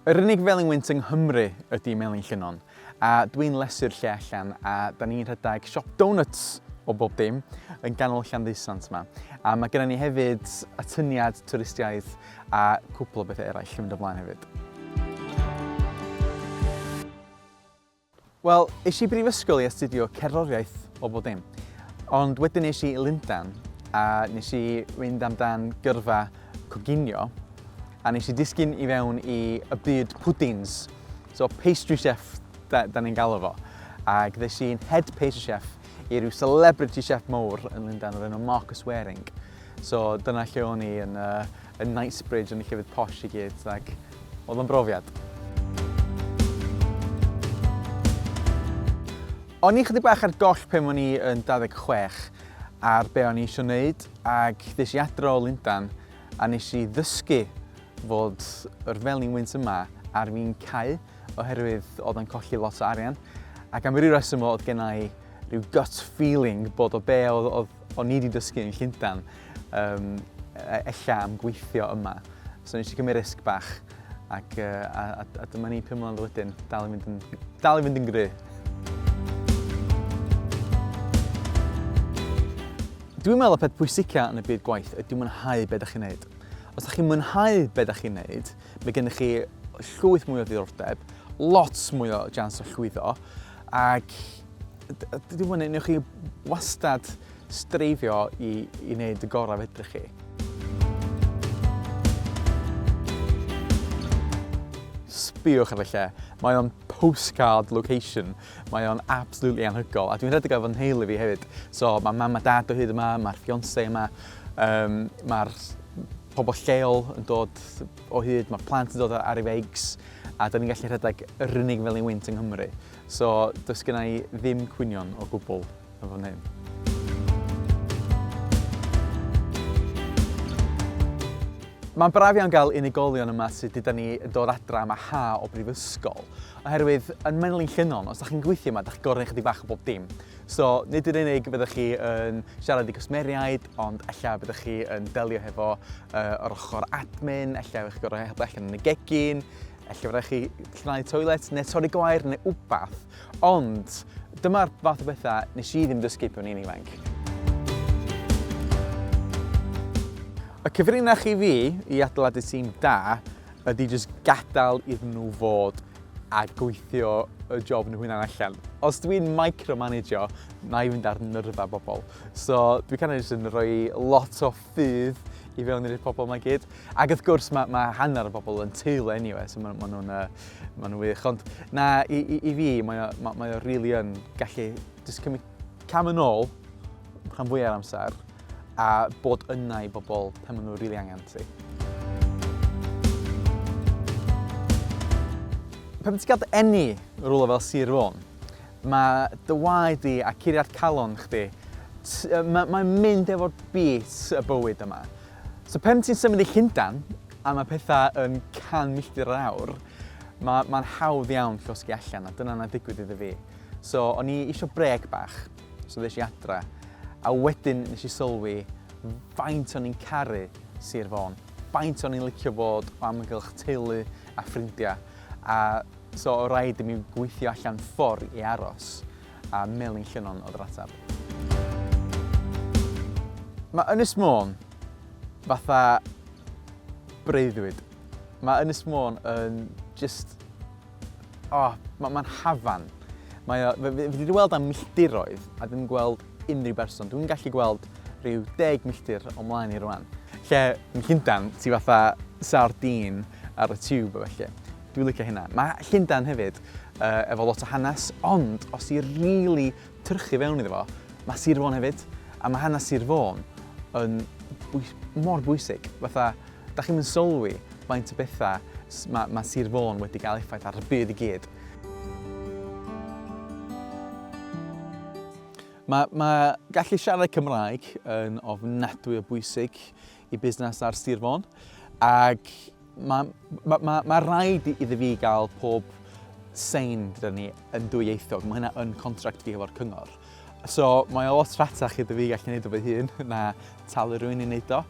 Yr unig felin wynt yng Nghymru ydy melin llynon, a dwi'n lesu'r lle allan a da ni'n rhedeg siop donuts o bob dim yn ganol Llanddysant yma. A mae gennym ni hefyd atyniad twristiaeth A cwpl o bethau eraill yn mynd o mlaen hefyd. Wel, es i brifysgol i astudio cerddoriaeth o bod dim. Ond wedyn nes i Lundan a nes i fynd amdan gyrfa coginio a nes i disgyn i fewn i y byd pwdins, so pastry chef da, da ni'n galw fo. Ac ddes i'n head pastry chef i ryw celebrity chef mowr yn Lundain o'r enw Marcus Waring. So dyna lle o'n i yn, uh, yn Knightsbridge yn y llefydd posh i gyd, ac oedd o'n brofiad. O'n i chydig bach ar goll pen o'n i yn 26 ar be o'n i eisiau gwneud ac ddys i adro o Lundan a nes i ddysgu fod yr felin wynt yma ar fi'n cau oherwydd oedd yn colli lot o arian ac am ryw reswm oedd gen i rhyw gut feeling bod o be oedd, oedd o'n i wedi dysgu yn Llundain um, ella am gweithio yma. So nes i gymryd risg bach ac uh, a, a, a dyma ni pum mlynedd wedyn, dal i fynd yn, dal i fynd yn gry. Dwi'n meddwl y peth pwysica yn y byd gwaith ydy mwynhau beth ydych chi'n neud. Os ydych chi'n mwynhau beth ydych chi'n neud, Mae gennych chi llwyth mwy o ddiddordeb, lot mwy o jans o llwyddo, ac dwi'n mwyn yn chi wastad streifio i, i wneud y gorau fedrych chi. Sbiwch ar y lle. Mae o'n postcard location. Mae o'n absolutely anhygol. A dwi'n rhedeg efo nheulu fi hefyd. So mae mam a dad o hyd yma, mae'r fiance yma, um, mae'r pobl lleol yn dod o hyd, mae plant yn dod ar ei feigs, a da ni'n gallu rhedeg yr unig fel ni'n wynt yng Nghymru. So, does gen i ddim cwynion o gwbl yn fan hyn. Mae'n braf iawn gael unigolion yma sydd gyda ni yn dod adra am a ha o brifysgol, oherwydd yn Menlyn Llynnon, os da chi'n gweithio yma, da chi'n gorau ychydig bach o bob dim. So, nid yn unig fyddwch chi yn siarad i gwsmeriaid, ond ella byddwch chi yn delio hefo uh, yr ochr admin, ella yw'ch gorau helpu allan yn y gegin, ella fyddwch chi llnau toilet neu torri gwair neu wbath. Ond dyma'r fath o bethau nes i ddim dysgu pan i'n ifanc. Y cyfrinach i fi i adeiladu tîm da ydy jyst gadael iddyn nhw fod a gweithio y job nhw hunan allan. Os dwi'n micromanagio, na i fynd ar nyrfa bobl. So dwi kind of jyst yn rhoi lot o ffydd i fewn i'r pobl mae gyd. Ac wrth gwrs mae, mae hanner y bobl yn teulu anyway, so maen ma nhw'n ma nhw wych. Ond na, i, i, i fi, mae o, mae, mae o really yn gallu jyst cymryd cam yn ôl rhan fwyaf amser a bod yna i bobl pan maen nhw'n rili really angen ti. Pan ti'n cael enni rhywle fel Sir Fôn, mae dy waed di a curiad calon chdi, mae'n mae mynd efo'r bit y bywyd yma. So pan ti'n symud i Llundan, a mae pethau yn can milltir yr awr, mae'n ma hawdd iawn llosgi allan, a dyna na digwydd iddo fi. So o'n i eisiau breg bach, So ddes i adra, a wedyn nes i sylwi faint o'n i'n caru Sir Fôn, faint o'n i'n licio bod o amgylch teulu a ffrindiau, a so o rhaid i mi gweithio allan ffordd i aros, a Melin Llynnon oedd yr ateb. Mae Ynys Môn fatha breuddwyd. Mae Ynys Môn yn just O, oh, mae'n ma hafan. Mae o, fi wedi gweld am milltiroedd a ddim gweld unrhyw berson. Dwi'n gallu gweld rhyw deg milltir o mlaen i rwan. Lle yn Llundan, ti fatha sardin ar y tube o felly. Dwi'n licio hynna. Mae Llundan hefyd uh, efo lot o hanes, ond os i'n rili really tyrchu fewn iddo fo, mae Sir Fôn hefyd, a mae hanes Sir Fôn yn bwys mor bwysig. Fatha, Dach chi'm yn sylwi faint o bethau mae ma Sir Fôn wedi cael effaith ar y byd i gyd. Mae, mae gallu siarad Cymraeg yn ofnadwy o bwysig i busnes ar Sir Fôn ac mae, mae, mae, mae rhaid iddi fi gael pob sein gyda ni yn dwyieithog. Mae hynna yn contract fi hefo'r cyngor. So, mae o lot rhatach iddo fi gallu neud o fy hun na talu rhywun i neud o.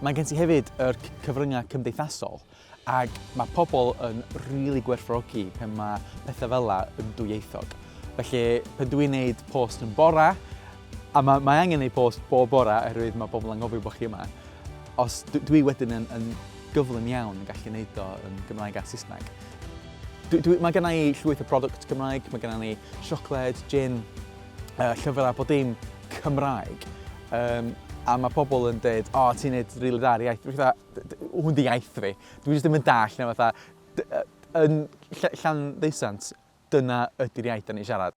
Mae gen ti hefyd yr cyfryngau cymdeithasol, ac mae pobl yn rili really gwerthfawrogi pan mae pethau fel la yn dwyieithog. Felly, pan dwi'n neud post yn bora, a mae, mae angen neud post bob bora oherwydd mae pobl yn gofio bod chi yma, os dwi wedyn yn, yn gyflym iawn yn gallu neud o yn Gymraeg a Saesneg. Dwi, dwi, mae gennau i llwyth o product Cymraeg, mae gennau ni siocled, gin, uh, llyfr a bod dim Cymraeg. Um, a mae pobl yn dweud, o, oh, ti'n neud rili dda ar iaith. Dwi'n fatha, hwn di iaith fi. Dwi'n jyst ddim yn dall, neu fatha, yn llan ddeisant, dyna ydy'r iaith da ni'n siarad.